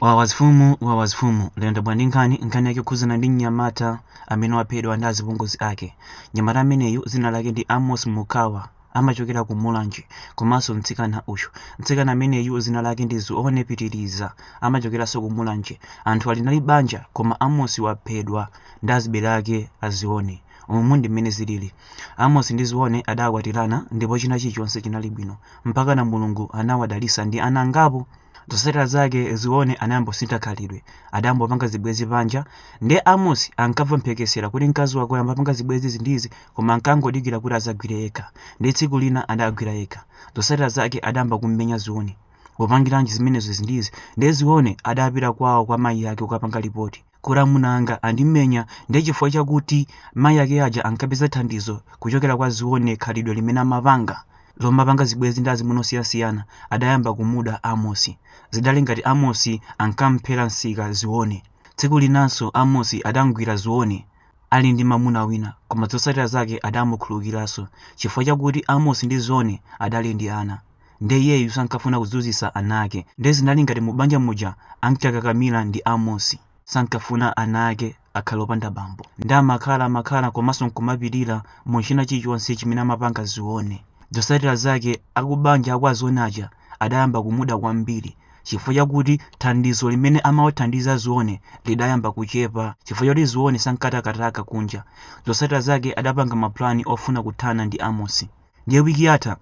Wawazfumu wawazfumu lero ndabwera ndi nkhani nkhani yake yokhuzana ndi mnyamata amene waphedwa ndi azipongozi ake mnyamata ameneyu dzina lake ndi amos mukawa amachokera ku mulanje komanso mtsikana uyu mtsikana ameneyu dzina lake ndi zione pitiriza amachokeranso ku mulanje anthu awiriwa anali banja koma amos waphedwa ndi azibale ake a zione umu ndi mmene zilili amos ndi zione adakwatirana ndipo china chilichonse chinali bwino mpakana mulungu anawadalitsa ndi ana angapo Zotsatira zake Zione anayambosintha khalidwe. Adayambopanga zibwenzi panja. Ndiye Amos ankamva mphekesera kuti mkazi wake wayambopanga zibwenzi izi ndi izi koma ankangodikira kuti adzagwire yekha. Ndiye tsiku lina adagwira yekha. Zotsatira zake adayamba kummenya Zione. Wapangiranji zimenezo izi ndi izi. Ndiye Zione adapita kwawo kwa mayi ake kukapanga lipoti. Kuti amuna anga andimenya ndiye chifukwa chakuti mayi ake aja ankapeza thandizo kuchokera kwa Zione khalidwe limene amapanga lomapanga zibwenzi ndi azimuna osiyanasiyana adayamba kumuda Amosi. Zidali ngati Amosi ankamphera msika Zione. Tsiku linanso Amosi adamgwira Zione ali ndi mamuna wina koma zotsatira zake adamukhululukiranso chifukwa chakuti Amosi ndi Zione adali ndi ana. nde iyeyu sankafuna kuzunzitsa ana ake nde zinali ngati mubanja muja ankakakamira ndi amosi sankafuna ana ake akhale opanda bambo nde amakhala amakhala komanso nkumapirira mu china chilichonse chimene amapanga zione zotsatira zake akubanja akwa zione aja adayamba kumuda kwambiri chifukwa chakuti thandizo limene amawathandiza zione lidayamba kuchepa chifukwa chakuti zione sankatakataka kunja zotsatira zake adapanga mapulani ofuna kuthana ndi amosi Ndiye wiki yatha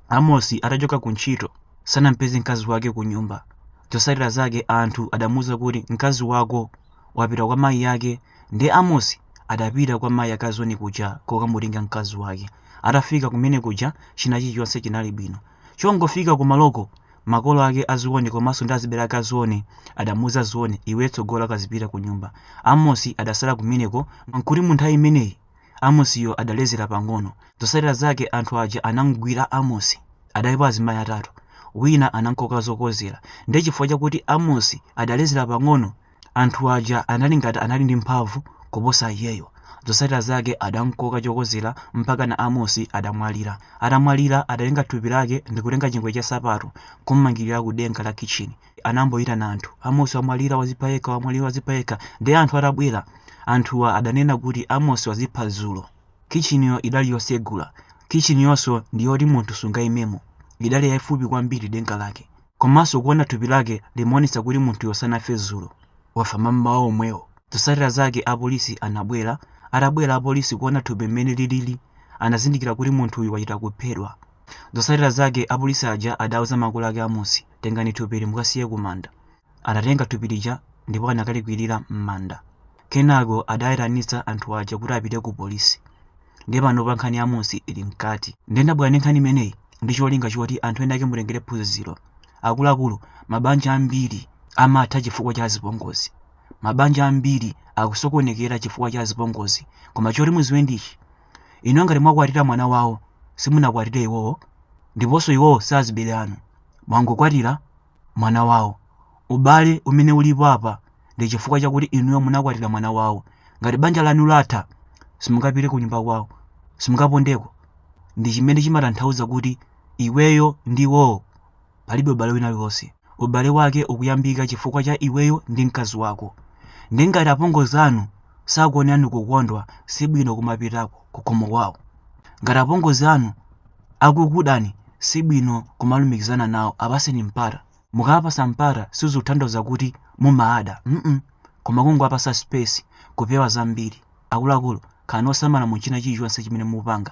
Amosi atachoka ku ntchito sanampeze mkazi wake ku nyumba. Zotsatira zake anthu adamuuza kuti mkazi wako wapita kwa mayi ake. Ndiye Amosi adapita kwa mayi ake a Zione kuja kokamutenga mkazi wake. Atafika kumene kuja china chilichonse chinali bwino. Chongofika kumaloko makolo ake a Zione komanso ndi azibale ake a Zione adamuuza Zione, iwe tsogola kazipita ku nyumba. Amosi adatsala kumeneko nkuti mu nthawi imeneyi Amosiyo adalezera pang'ono. Zotsatira zake anthu aja anamgwira Amosi. Adalipo azimayi atatu. Wina anamkoka zokozera. Ndiye chifukwa chakuti Amosi adalezera pang'ono, anthu aja anali ngati anali ndi mphamvu kuposa iyeyo. Zotsatira zake adamkoka chokozera mpakana Amosi adamwalira. Atamwalira adatenga thupi lake ndikutenga chingwe cha nsapato nkummangirira ku denga la kitchini. anayamboitana anthu amosi wamwalira wazipha yekha wamwalira wazipha yekha ndiye anthu atabwera anthuwa adanena kuti amosi wazipha dzulo kitchiniyo idali yosegula kitchiniyonso ndi yoti munthu sungaimemo idali yaifupi kwambiri denga lake komanso kuona thupi lake limaonetsa kuti munthuyo sanafe dzulo wafa mammawa omwewo zotsatira zake apolisi anabwera atabwera apolisi kuona thupi mmene lilili anazindikira kuti munthuyu wachita kuphedwa zotsatira zake apolisi aja adauza makolo ake amosi Tengani thupili mukasiye kumanda. Adatenga thupi lija ndipo anakalikwirira m'manda. Kenako adaitanitsa anthu aja kuti apite kupolisi. Ndiye panopa nkhani ya Amos ili mkati. Ndiye ndabwera ndi nkhani imeneyi ndi cholinga choti anthu ena ake mutengere phunziro. Akuluakulu, mabanja ambiri amatha chifukwa cha azipongozi. Mabanja ambiri akusokonekera chifukwa cha azipongozi. Koma choti mudziwe ndi ichi, Inuyo ngati mwakwatira mwana wawo, simunakwatire iwowo, ndiponso iwowo si azibale anu. Mwangokwatira mwana wawo. Ubale umene ulipo apa ndi chifukwa chakuti inuyo munakwatira mwana wawo. Ngati banja lanu latha, simungapite kunyumba kwawo, simungapondeko. Ndi chimene chimatanthauza kuti iweyo ndi iwowo Palibe ubale wina uliwonse. Ubale wake ukuyambika chifukwa cha iweyo ndi mkazi wako. Nde ngati apongozi anu sakuonerani kukondwa sibwino kumapitako kukhomo kwawo. Ngati apongozi anu akukudani sibwino kumalumikizana nawo apaseni mpata. Mukawapasa mpata sizikutanthauza kuti mumaada mm koma kungowapasa space kupewa zambiri. Akuluakulu khalani osamala mu china chilichonse chimene mukupanga.